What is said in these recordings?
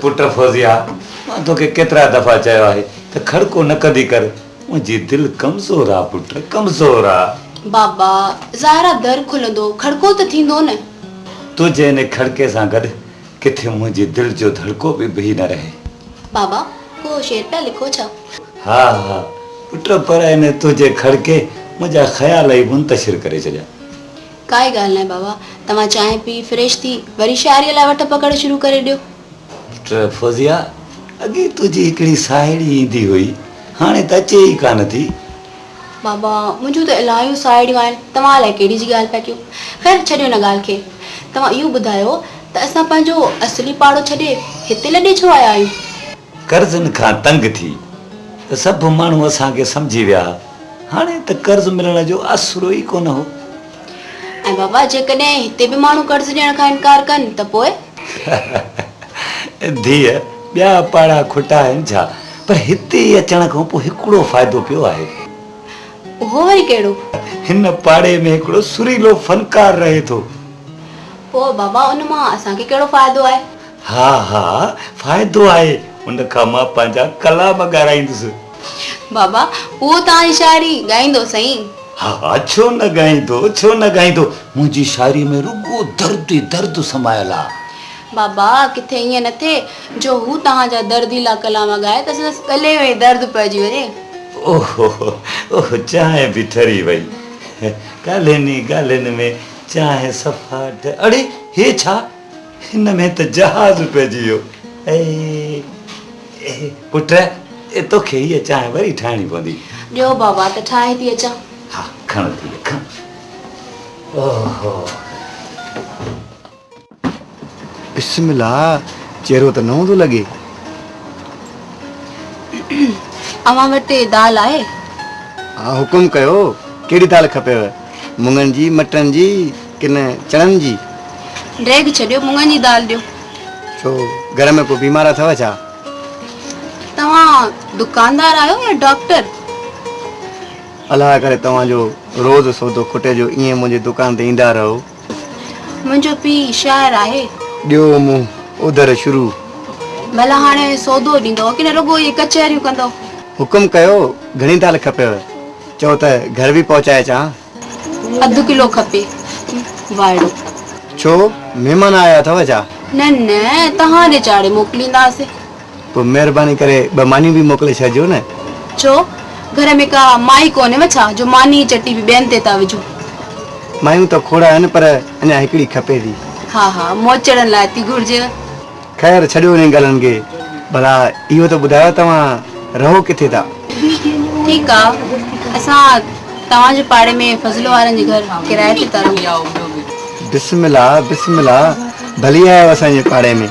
پٽ فوزيه مان توکي ڪيترا دفعا چيو آهي ته کڙڪو نه ڪندي ڪر منهنجي دل ڪمزور آ پٽ ڪمزور آ. بابا، ظاهرا در کلندو، کڙڪو ته ٿيندو نه. تنهنجي ان کڙڪي سان گڏ ڪٿي منهنجي دل جو ڌڙڪو به بيهي نه رهي. بابا، ڪو شعر پيا لکو ڇا؟ ها ها پٽ پر ان تنهنجي کڙڪي منهنجا خيال ئي منتشر ڪري ڇڏيا. ڪائي ڳالهه ناهي بابا، توهان چانهه پي فريش ٿي وري شاعريء لاء وٺ پڪڙ شروع ڪري ڏيو. ڊاڪٽر فوزيه، اڳي تنهنجي هڪڙي ساهيڙي ايندي هئي، هاڻي ته اچي ئي ڪانه ٿي. بابا، منهنجون ته الاهيون ساهيڙيون آهن، توهان الائي ڪهڙي جي ڳالهه پيا ڪيو. خير ڇڏيو ان ڳالهه کي. توهان اهو ٻڌايو ته اسان پنهنجو اصلي پاڙو ڇڏي هتي لڏي ڇو آيا آهيون؟ قرضن کان تنگ ٿي ته سڀ ماڻهو اسان کي سمجهي ويا ها. هاڻي ته قرض ملڻ جو اسرو ئي ڪونه هو. ۽ بابا جيڪڏهن هتي به ماڻهو قرض ڏيڻ کان انڪار ڪن ته پوء؟ ڌيء، ٻيا پاڙا کوٽا آهن ڇا؟ پر هتي اچڻ کان پوء هڪڙو فائدو پيو آهي. اهو وري ڪهڙو؟ هن پاڙي ۾ هڪڙو سريلو فنڪار رهي ٿو. پوء بابا ان مان اسان کي ڪهڙو فائدو آهي؟ ها ها فائدو آهي، ان کان مان پنهنجا ڪلام ڳارائيندس. بابا، اهو ته آهي شاعري، ڳائيندو سائين؟ ها ها، ڇو نه ڳائيندو، ڇو نه ڳائيندو، منهنجي شاعريء ۾ رڳو درد ئي درد سمايل آ. بابا، ڪٿي ائين نه ٿئي، جو هو توهان جا درديلا ڪلام ڳائي ته سندس ڳلي ۾ ئي درد پئجي وڃي. اوهو اوهو، چانهه به ٺري وئي. ڳالهين ئي ڳالهين ۾ چانهه صفا ٺري. اڙي، هي ڇا؟ هن ۾ ته جهاز پئجي ويو. اي پٽ! توکي هيء چانهه وري ٺاهڻي پوندي. ڏيو بابا ته ٺاهي ٿي اچان. ها کڻ ڌيء کڻ. اوهو! بسم الله! چهرو ته نئون ٿو لڳي. اوهان وٽ دال آهي؟ ها حڪم ڪيو. ڪهڙي دال کپيو؟ مڱن جي، مٽرن جي؟ ڪن چڻن جي. ڊيگهه ڇڏيو، مڱن جي دال ڏيو. ڇو گهر ۾ ڪو بيمار اٿئو ڇا؟ توهان دڪاندار آهيو يا ڊاڪٽر؟ الاهه ڪري توهان جو روز سودو کٽي جو ائين منهنجي دڪان تي ايندا رهو. منهنجو پيء شاعر آهي. ڏيو منهن اوڌر شروع. ڀلا هاڻي سودو ڏيندؤ ڪنه رڳو ائين ڪچهريون ڪندؤ؟ حڪم ڪيو گهڻي دال کپيو؟ چئو ته گهر به پهچائي اچان. اڌ ڪلو کپي وائڙو. ڇو مھمان آيا اٿو ڇا؟ نه نه توھان ڏي چاڙھي موڪلينداسين. پوء مھرباني ڪري ٻه مانيون به موڪلي ڇڏجو نه. ڇو گھر ۾ ڪا مائي ڪونھيو ڇا جو ماني جي چٽي به ٻين تي ٿا وجھو. مايون ته کوڙ آھن پر اڃا ھڪڙي کپي ٿي. ھا ھا موچڙن لاء ٿي گھرجيو. خير ڇڏيو انهن ڳالهن کي ڀلا اهو ته ٻڌايو توهان رهو ڪٿي ٿا؟ ٺيڪ آ اسان توهان جي پاڙي ۾ فضل وارن جي گهر ڪرايي تي ٿا رهون. بسم الله بسم الله ڀلي آيو اسان جي پاڙي ۾.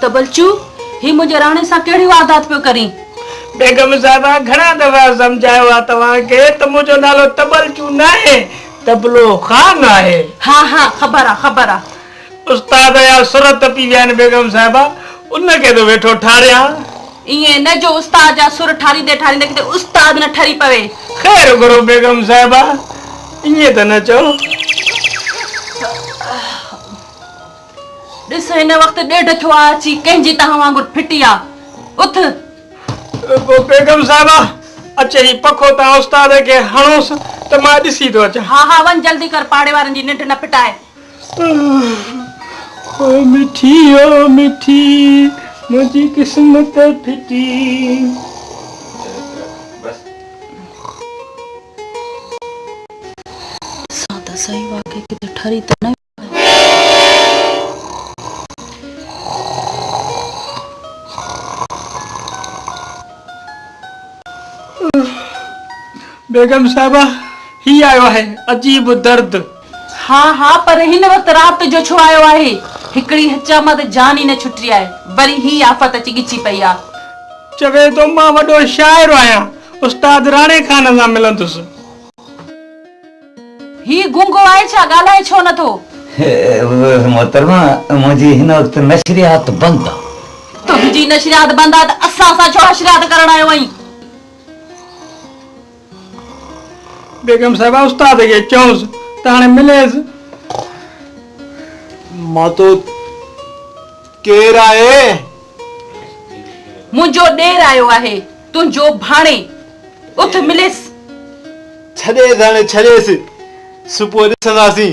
تبلچو هي منهنجي راڻي سان ڪهڙي واردات پيو ڪرين بيگم صاحبه گهڻا دفعا سمجهايو آ توهان کي ته منهنجو نالو تبلچو ناهي تبلو خان آهي ها ها خبر آ خبر آ استاد يا سرت تپي ويا آهن بيگم صاحبه، ان کي ٿو ويٺو ٺاريان. ائين نه جو استاد جا سر ٺاريندي ٺاريندي ڪٿي استاد نه ٺري پوي. خير گهرو بيگم صاحبه، ائين ته نه چئو. ڏس هن وقت ڏيڍ ٿيو آهي اچي ڪنهن جي تهان وانگر ڦٽي آ. اٿ. بيگم صاحبه اچ هي پکو تان استاد کي هڻوس ته مان ڏسي ٿو اچان. ها ها وڃ جلدي ڪر پاڙي وارن جي ننڊ نه ڦٽائي. او مٺي او مٺي منهنجي قسمت ڦٽي. بيگم صاحبه هي آيو آهي عجيب درد. ها ها پر هن وقت رات جو ڇو آيو آهي؟ هڪڙي هچامه ته جان ئي نه ڇٽي آهي. وري هي آفت اچي ڳچي پئي آ. چوي ٿو مان وڏو شاعر آهيان. استاد راڻي خان سان ملندس. هي گونگو آهي ڇا؟ ڳالهائي ڇو نه ٿو؟ محترمه منهنجي هن وقت نشريات بند آ. تنهنجي نشريات بند آ ته اسان سان ڇو حشريات ڪرڻ آيو آهين؟ بيگم صاحبه استاد کي چئوس ته هاڻي مليس. مان تو ڪير آهي؟ منهنجو ڏير آيو آهي تنهنجو ڀاڻي اٿ مليس. ڇڏيس هاڻي ڇڏيس صبح ڏسنداسين.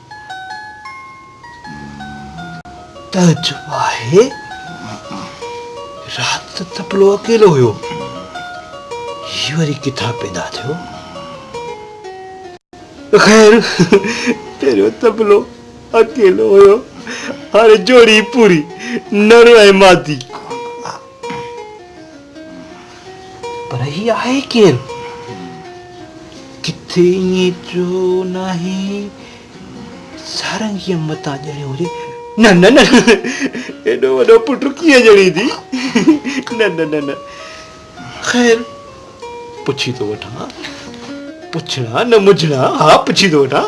تعجب آهي، رات ته تپلو اڪيلو هيو، هي وري ڪٿان پيدا ٿيو؟ خير، پهريون تپلو اڪيلو هيو، هاڻي جوڙي پوري، نر ۽ مادي. پر هي آهي ڪير؟ ڪٿي ائين جو ناهي سارنگيء متان ڄڻيو هجي. نه نه نه ايڏو وڏو پٽ ڪيئن ڄڻيندي؟ نه نه نه نه خير پڇي ٿو وٺان. پڇڻا نه مجھڻا ها پڇي ٿو وٺان.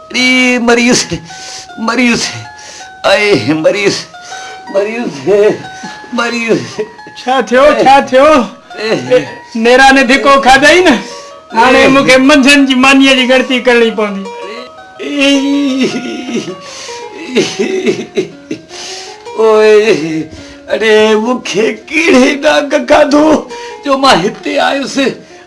اي مريض مريض اي مريض مريض مريض ڇا ٿيو ڇا ٿيو نيرا ني ڌڪو کاڌئي نه هاڻي مون کي منجهن جي مانيء جي ڳڻتي ڪرڻي پوندي. او اڙي مون کي ڪهڙي ڏاڪ کاڌو جو مان هتي آيس.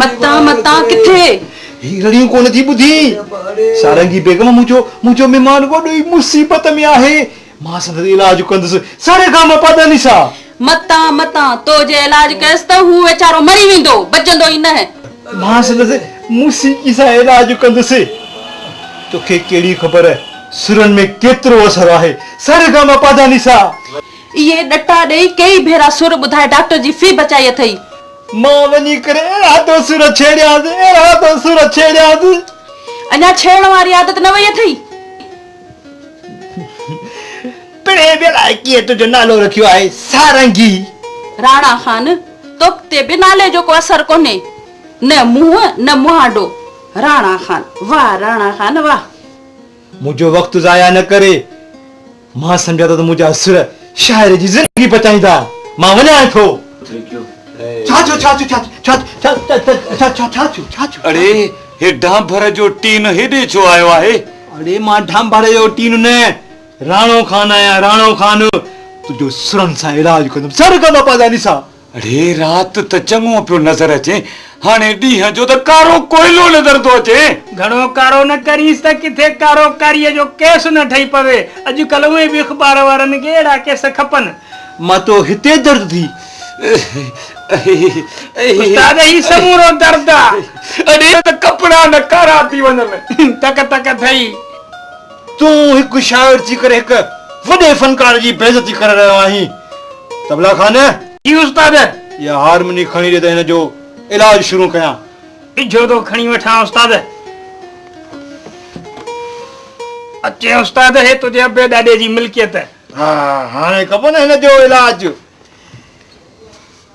متان متان ڪٿي؟ هي رڙيون ڪو نه ٿي ٻڌين؟ سارنگي بيگم منهنجو منهنجو مهمان وڏو ئي مصيبت ۾ آهي. مان سندس علاج ڪندس. ساري گا ما پادانيسا. متان متان تو جي علاج ڪيس ته هو ويچارو مري ويندو. بچندو ئي نه. مان سندس موسيقي سان علاج ڪندس. توکي ڪهڙي خبر سرن ۾ ڪيترو اثر آهي. ساري گا ما پادانيسا. اهي ڏٽا ڏئي ڪيئي ڀيرا سر ٻڌائي ڊاڪٽر جي في بچائي اٿئي. مان وڃي ڪري اهڙا تو سر ڇيڙيانس اهڙا تو سر ڇيڙيانس. اڃا ڇيڙڻ واري عادت نه وئي اٿئي. پڻ هي به الائي ڪيئن تنهنجو نالو رکيو آهي سارنگي. راڻا خان! توک تي به نالي جو ڪو اثر ڪونهي. نه منهن نه مهانڊو. راڻا خان! واهه راڻا خان واهه. منهنجو وقت ضايع نه ڪري. مان سمجهان ٿو ته منهنجا سر شاعر جي زندگي بچائين ٿا. مان وڃان ٿو. ڇا ٿيو ڇا ٿيو ڇا ٿيو ڇا ٿيو. اڙي هي ڍانڀر جو ٽين هيڏي ڇو آيو آهي. اڙي مان ڍانڀر جو ٽين نه راڻو خان آهيان راڻو خان تنهنجو سرن سان علاج ڪندم سر ڪندو پاداني صاحب. اڙي رات ته چڱو پيو نظر اچي، هاڻي ڏينهن جو ته ڪارو ڪوئلو نظر ٿو اچي. گهڻو ڪارو نه ڪرينس ته ڪٿي ڪارو ڪاريء جو ڪيس نه ٺهي پوي. اڄ ڪلهه اونهي به اخبار وارن کي اهڙا ڪيس کپن. مان تو هتي درد ٿي. استاد هي سمورو درد آ. اڙي ته ڪپڙا نه ڪارا ٿي وڃن. تڪ تڪ ٿئي. تون هڪ شاعر ٿي ڪري هڪ وڏي فنڪار جي بي عزتي ڪري رهيو آهين طبلا خان. جي استاد. اها هارموني کڻي ڏي ته هن جو علاج شروع ڪيان. ڊجو ٿو کڻي وٺان استاد. اچي استاد هي تنهنجي ابي ڏاڏي جي ملڪيت. ها هاڻي ڪبو نه هن جو علاج.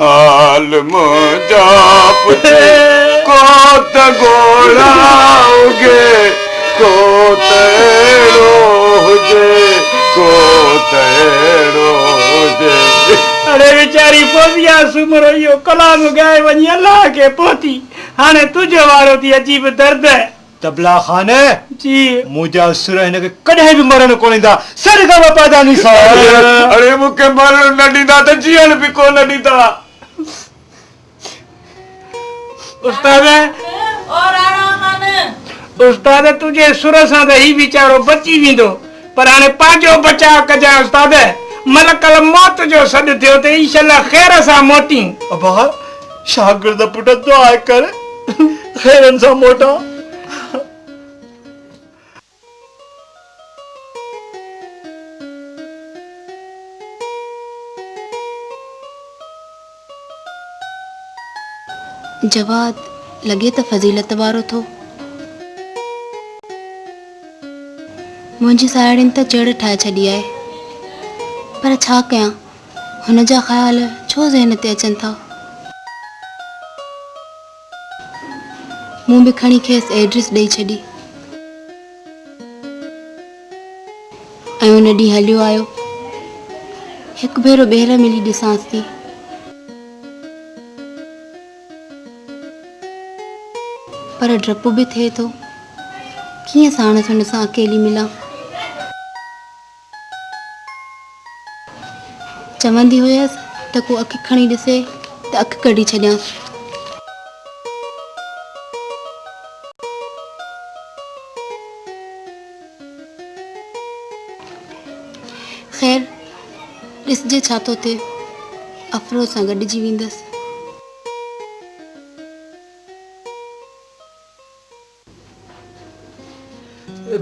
حال منهنجا پڇي ڪو ته ڳوڙها اگهي ڪو ته اهڙو هجي ڪو ته اهڙو هجي. اڙي ويچاري فوزيه سومرو اهو ڪلام ڳائي وڃي الله کي پهتي هاڻي تنهنجو وارو ٿي عجيب درد. طبلا خان! جي! منهنجا سر هن کي ڪڏهن به مرڻ ڪونه ڏيندا، سر کان به پئدا ني سا. اڙي مون کي مرڻ نه ڏيندا ته جيئڻ به ڪو نه ڏيندا. استاد! او راڻا خان! استاد تنهنجي سر سان ته هي ويچارو بچي ويندو، پر هاڻي پنهنجو بچاء ڪجانء استاد! ملڪ الموت جو سڏ ٿيو ته انشاء الله خير سان موٽين. ابا! شاگرد پٽ دعا ڪر خيرن سان موٽان. جواد، لڳي ته فضيلت وارو ٿو. منهنجي ساهيڙين ته چڙ ٺاهي ڇڏي آهي پر ڇا ڪيان. هن جا خيال ڇو ذهن تي اچن ٿا؟ مون به کڻي کيس ايڊريس ڏئي ڇڏي ۽ ان ڏينهن هليو آيو. هڪ ڀيرو ٻيهر ملي ڏسانس ٿي. پر ڊپ به ٿئي ٿو، ڪيئن ساڻس هن سان اڪيلي ملان. چوندي هيس ته ڪو اک کڻي ڏسي ته اک ڪڍي ڇڏيان. خير، ڏسجي ڇا ٿو ٿئي. افروز سان گڏجي ويندس.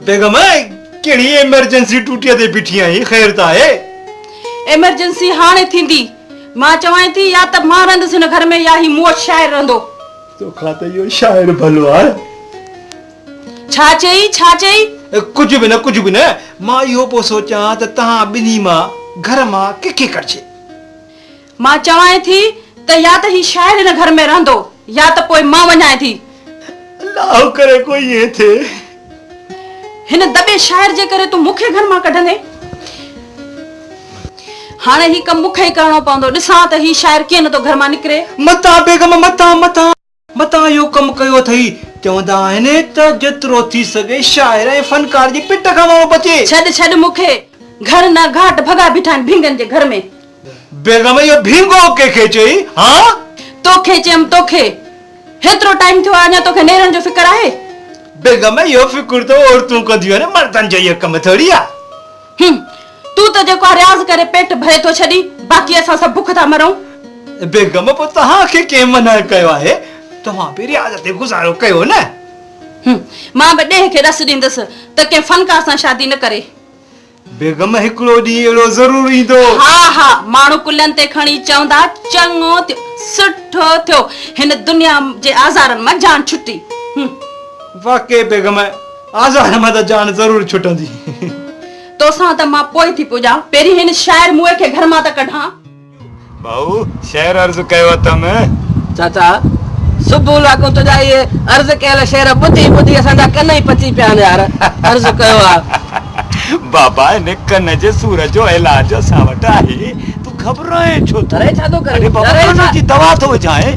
بيگم ڪهڙي ايمرجنسي ٽوٽي تي بيٺي آهين خير ته آهي. ايمرجنسي هاڻي ٿيندي. مان چوانء ٿي يا ته مان رهندس هن گهر ۾ يا هي موش شاعر رهندو. تو کان ته اهو شاعر ڀلو آهي. ڇا چئي؟ ڇا چئي؟ ڪجهه به نه ڪجهه به نه. مان اهو پيو سوچان ته توهان ٻنهي مان گهر مان ڪنهن کي ڪڍجي. مان چوانء ٿي ته يا ته هي شاعر هن گهر ۾ رهندو يا ته پوء مان وڃانء ٿي. الله ڪري ڪو ائين ٿئي. هن دٻي شاعر جي ڪري تون مون کي گهر مان ڪڍندين. هاڻ هي ڪم مون کي ئي ڪرڻو پوندو. ڏسان ته هي شاعر ڪيئن نه ٿو گهر مان نڪري. متان بيگم متان متان. متان اهو ڪم ڪيو اٿئي. چوندا آهن ته جيترو ٿي سگهي شاعر ۽ فنڪار جي پٽ کان ماڻهو بچي. ڇڏ ڇڏ مون کي گهر نه گهاٽ ڀڳا بيٺا آهن ڀينگن جي گهر ۾. بيگم اهو ڀينگو ڪنهن کي چئي ها؟ توکي چيم توکي. هيترو ٽائيم ٿيو آهي اڃا توکي نيرڻ جو فڪر آهي؟ بيگم اهو فڪر ته عورتون ڪنديون آهن مردن جو اهو ڪم ٿوري آهي. هم. تون ته جيڪو آ رياض ڪري پيٽ ڀري ٿو ڇڏين باقي اسان سڀ بک ٿا مرون. بيگم پوء توهان کي ڪنهن منع ڪيو آهي توهان به رياض تي گذارو ڪيو نه. هم. مان به ڏيهه کي ڏس ڏيندس ته ڪنهن فنڪار سان شادي نه ڪري. بيگم هڪڙو ڏينهن اهڙو ضرور ايندو. ها ها ماڻهو ڪلهن تي کڻي چوندا چڱو ٿيو سٺو ٿيو هن دنيا جي آزارن مان جان ڇٽي. هم. واقعي بيگم. آزار مان ته جان ضرور ڇٽندي. توسان ته مان پوء ٿي پڄان. پهرين هن شاعر موئي کي گهر مان ته ڪڍان. ڀائو شعر عرض ڪيو اٿم. چاچا صبح لاکون تنهنجا اهي عرض ڪيل شعر ٻڌي ٻڌي اسان جا ڪن ئي پچي پيا آهن يار عرض ڪيو آ. بابا هن ڪن جي سور جو علاج اسان وٽ آهي. گهٻرائين ڇو ٿو؟ اڙي بابا ڪنو جي دوا ٿو وجهائين.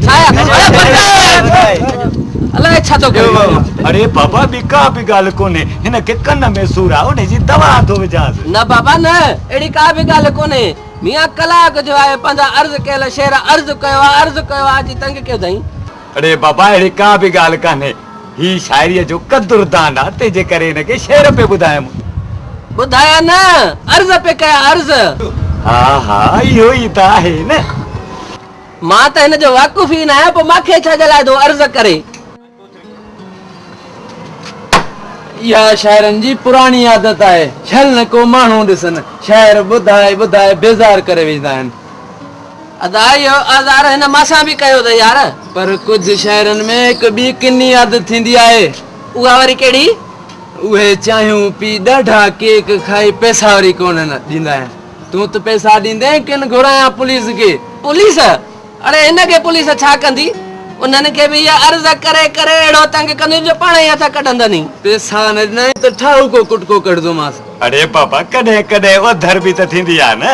اڙي بابا ٻي ڪا به ڳالهه ڪونهي، هن کي ڪن ۾ سور آهي ان جي دوا ٿو وجهانس. نه بابا نه، اهڙي ڪا به ڳالهه ڪونهي. ميان ڪلاڪ جو آهي پنهنجا عرض ڪيل شعر عرض ڪيو آهي، عرض ڪيو آهي، اچي تنگ ڪيو اٿئين. اڙي بابا اهڙي ڪا به ڳالهه ڪانهي. هي شاعريء جو قدر دان آ، تنهن جي ڪري هن کي شعر پئي ٻڌايم. ٻڌايا نه، عرض پئي ڪيا، عرض. ها ها، اهو ئي ته آهي نه. مان ته هن جو واقف ئي نه آهيان، پوء مان کي ڇا جي لاء ٿو عرض ڪري. اها شاعرن جي پراڻي عادت آهي، ڇل نه ڪو ماڻهو ڏسن، شعر ٻڌائي ٻڌائي بيزار ڪري وجهندا آهن. ادا اهو اظهار هن مان سان به ڪيو اٿئي يار. پر ڪجهه شاعرن ۾ هڪ ٻي ڪني عادت ٿيندي آهي. اها وري ڪهڙي؟ اهي چانهيون پي ڏاڍا ڪيڪ کائي پئسا وري ڪونه ڏيندا آهن. تون ته پئسا ڏيندين ڪن گهرايان پوليس کي. پوليس؟ اڙي هن کي پوليس ڇا ڪندي؟ انهن کي به اها عرض ڪري ڪري اهڙو تنگ ڪنديون جو پاڻ ئي هٿ ڪڍندنئي. پئسا نه ڏنائين ته ٺاهوڪو ڪٽڪو ڪڍندومانس. اڙي بابا ڪڏهن ڪڏهن اوڌر به ته ٿيندي آهي نه.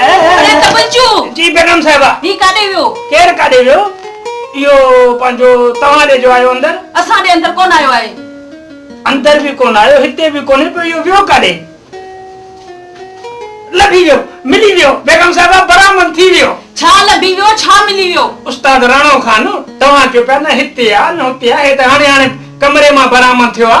اڙي توجو. جي بيگم صاحبه. هي ڪاڏي ويو؟ ڪير ڪاڏي ويو؟ اهو پنهنجو توهان ڏي جو آيو اندر. اسان ڏي اندر ڪونه آيو آهي. اندر به ڪونه آيو هتي به ڪونهي پوء اهو ويو ڪاڏي؟ لڀي ويو. ملي ويو. بيگم صاحبه برآمد ٿي ويو. ڇا لڀي ويو ڇا ملي ويو؟ استاد راڻو خان توهان چيو پيا نه هتي آ نه هتي آ هي ته هاڻي هاڻي ڪمري مان برآمد ٿيو آ.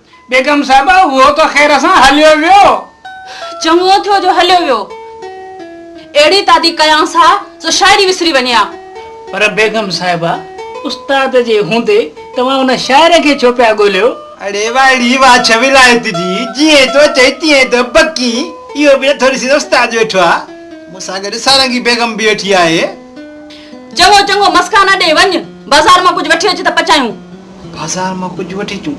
بيگم صاحبه اهو ته خير سان هليو ويو. چڱو ٿيو جو هليو ويو. اهڙي تادي ڪيانس ها سو شاعري وسري وڃي ها. پر بيگم صاحبه استاد جي هوندي توهان ان شاعر کي ڇو پيا ڳوليو؟ اڙي وائڙي واڇ ولايت جي جيئن تو چئين تيئن ته بڪين اهو به نٿو ڏسين ته استاد ويٺو آ. مون سان گڏ سارنگي بيگم به ويٺي آهي. چڱو چڱو مسڪا نه ڏي وڃ بازار مان ڪجهه وٺي اچ ته پچايون. بازار مان ڪجهه وٺي اچون.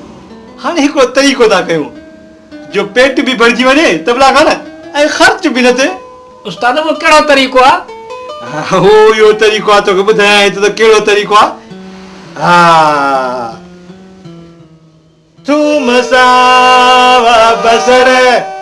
هاڻي هڪڙو طريقو ٿا ڪيون جو پيٽ به ڀرجي وڃي ته ڀلا کان ۽ خرچ به نه ٿئي. استاد اهو ڪهڙو طريقو آ؟ اهو اهو طريقو آ توکي ٻڌايانء ٿو ته ڪهڙو طريقو آ. ها ٿوم ساوا بصر.